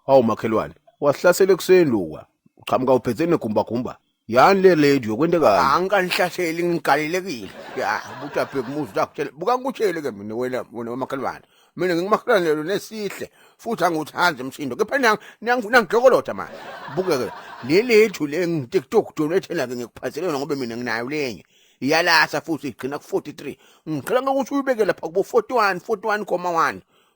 Hawu makhelwane, wasihlasela ekuseni luka. Uqhamuka uphethe negumbagumba. Yani le lady yokwentekayo. Angikanihlaseli ngigalelekile. Ya, ubuthi abheke umuzi zakutshela. Buka ngikutshele ke mina wena wena wamakhelwane. Mina ngingumakhelwane lo nesihle futhi angiwuthandi umsindo. Kepha nang nang nangijokolotha manje. Buke ke le lady le ngiTikTok donethela ke ngikuphathele yona ngoba mina nginayo lenye. Iyalasa futhi igcina ku 43. Ngicela ukuthi uyibeke lapha kubo 41 41,1.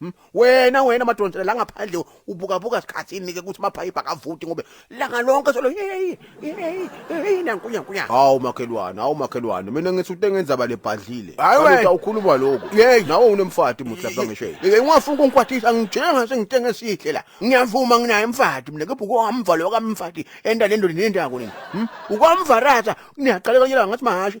Hmm? wena wena madonsela la ngaphandle ubukabuka sikhathini ke ukuthi maphayipha akavoti ngobe langa lonke solo hey hey hey nankunya nkunya hawu makhelwane hawu makhelwane mina ngithi ute ngenza balebhadlile hayi ukhuluma lokho hey nawe unemfati muthi lapha ngisho hey ungafuna ukungikwathisa ngijenga sengitenge esihle la ngiyavuma nginaye mfati mina kepha ukwamva lo kamfati enda lendoni nendako nini hmm? ukwamva ratha niyaqala kanye la ngathi mahashi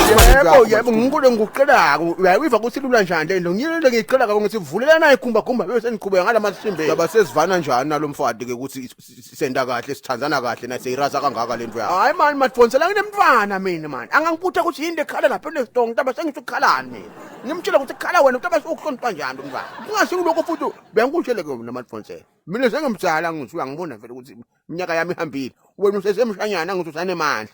yebo yebo nginkulu engikucelako uyayiva ukuthi ilula njani le nto ngiyilele ngiyicelaka ngithi vulelana ikhumba khumba bese seniqhubeka ngala masimbe yaba sesivana njani nalomfati ke ukuthi senda kahle sithandana kahle na seyiraza kangaka lento yakho hayi mani madfonsela nginemntwana mina mani angangikutha ukuthi yini lekhala lapha enestongo ntaba sengisho ukukhalani mina ngimtshela ukuthi kukhala wena ntaba sokuhlonipha njani umntwana kungasho kuloko futhi bengikutshele ke mina madfonsela mina sengimdala ngithi uyangibona vele ukuthi iminyaka yami ihambile wena usesemshanyana ngithi usanemandla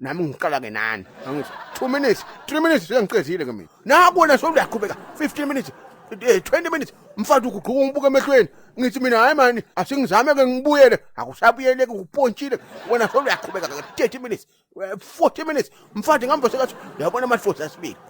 nami ngiqala ke nani angithi 2 minutes 3 minutes sengiqedile ke mina naku wena so uyaqhubeka 15 minutes 20 eh, minutes mfana uguquka umbuka emehlweni ngithi mina hayi mani asingizame ke ngibuyele akusabuyele ke upontshile wena so uyaqhubeka ke 30 minutes 40 eh, minutes mfana ngihamba sekathi uyabona ama force asibili